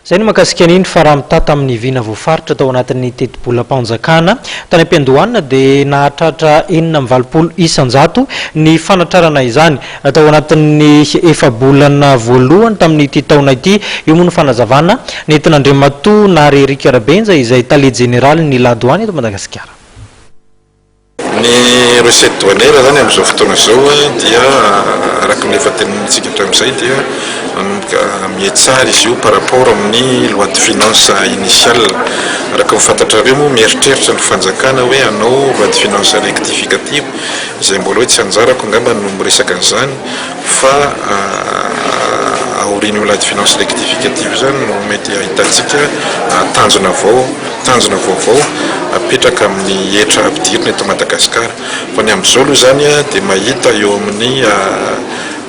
Izay no mahakasika an'iny fa raha mitaha tamin'ny vina voafaritra tao anatin'ny tetibolam-panjakana tany am-piandohana dia nahatratra enina amby valopolo isan-jato ny fanatrarana izany tao anatin'ny efa-bolana voalohany tamin'ity taona ity. Io moa no fanazavana nentin'Andriamatoa Nahary Eric Rabenja izay Tale Jeneralin'ny La Douane eto Madagasikara. Ny recette douanière zany amin'izao fotoana izao dia araka ny efa tenenintsika hatramin'izay dia manomboka mihatsara izy io par rapport amin'ny loi de finances initiale. Araka ny fantatrareo moa mieritreritra ny fanjakana hoe hanao loi de finances rectificative izay mbola hoe tsy anjarako angamba no miresaka an'izany fa aorian'io loi de finances rectificative io izany no mety hahitantsika tanjona vao, tanjona vaovao apetraka amin'ny hetra ampidirina eto Madagasikara. Fa ny amin'izao aloha izany dia mahita eo amin'ny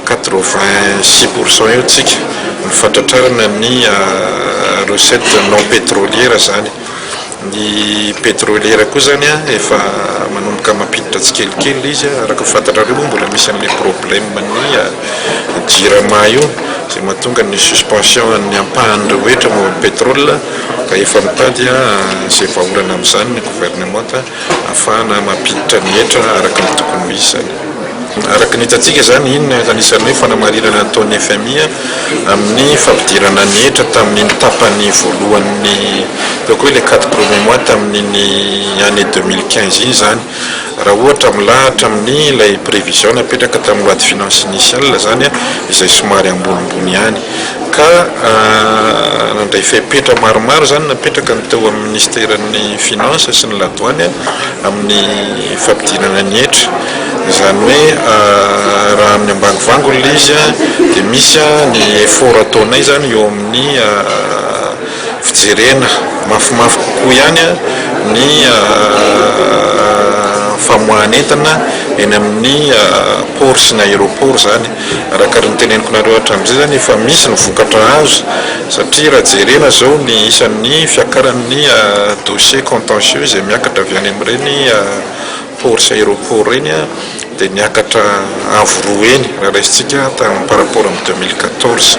quatre-vingt six pour cent eo tsika ny fahatratrarana ny recettes non pétrolières izany. Ny petroliera koa zany efa manomboka mampiditra tsikelikely le izy, araka fantatrareo moa mbola misy anle probleme ny jirama io izay mahatonga ny suspension an'ny ampahan'ireo hetra momba ny petrole ka efa mitady izay vahaolana amin'izany ny gouvernementa afahana mampiditra ny hetra araka ny tokony ho izy zany. Araka ny hitantsika izany, iny no anisan'ny hoe fanamarinana nataon'ny fmi amin'ny fampidirana ny hetra tamin'iny tapany voalohan'ny, ataoko hoe ilay quatre premiers mois tamin'iny année deux mille quinze iny izany. Raha ohatra milahatra amin'ilay prévision napetraka tamin'ny loi de finances initiale izany, izay somary ambonimbony ihany. Ka nandray fepetra maromaro izany napetraka ny teo amin'ny Minisiteran'ny Finances sy ny ladoany amin'ny. fampidinana ny hetra, izany hoe raha amin'ny ambany vangony ilay izy dia misy ny effort ataonay izany eo amin'ny fijerena mafimafy kokoa ihany ny famoahan'entana eny amin'ny port sy ny aéroport izany. Araka ny noteneniko nareo hatramizay zany efa misy ny vokatra azo satria raha jerena zao ny isan'ny fiakaran'ny dossiers contentieux izay miakatra avy any amin'ireny port sy aéroport ireny dia niakatra avo roa heny raha raisintsika tamin'ny par rapport amin'ny deux mille quatorze.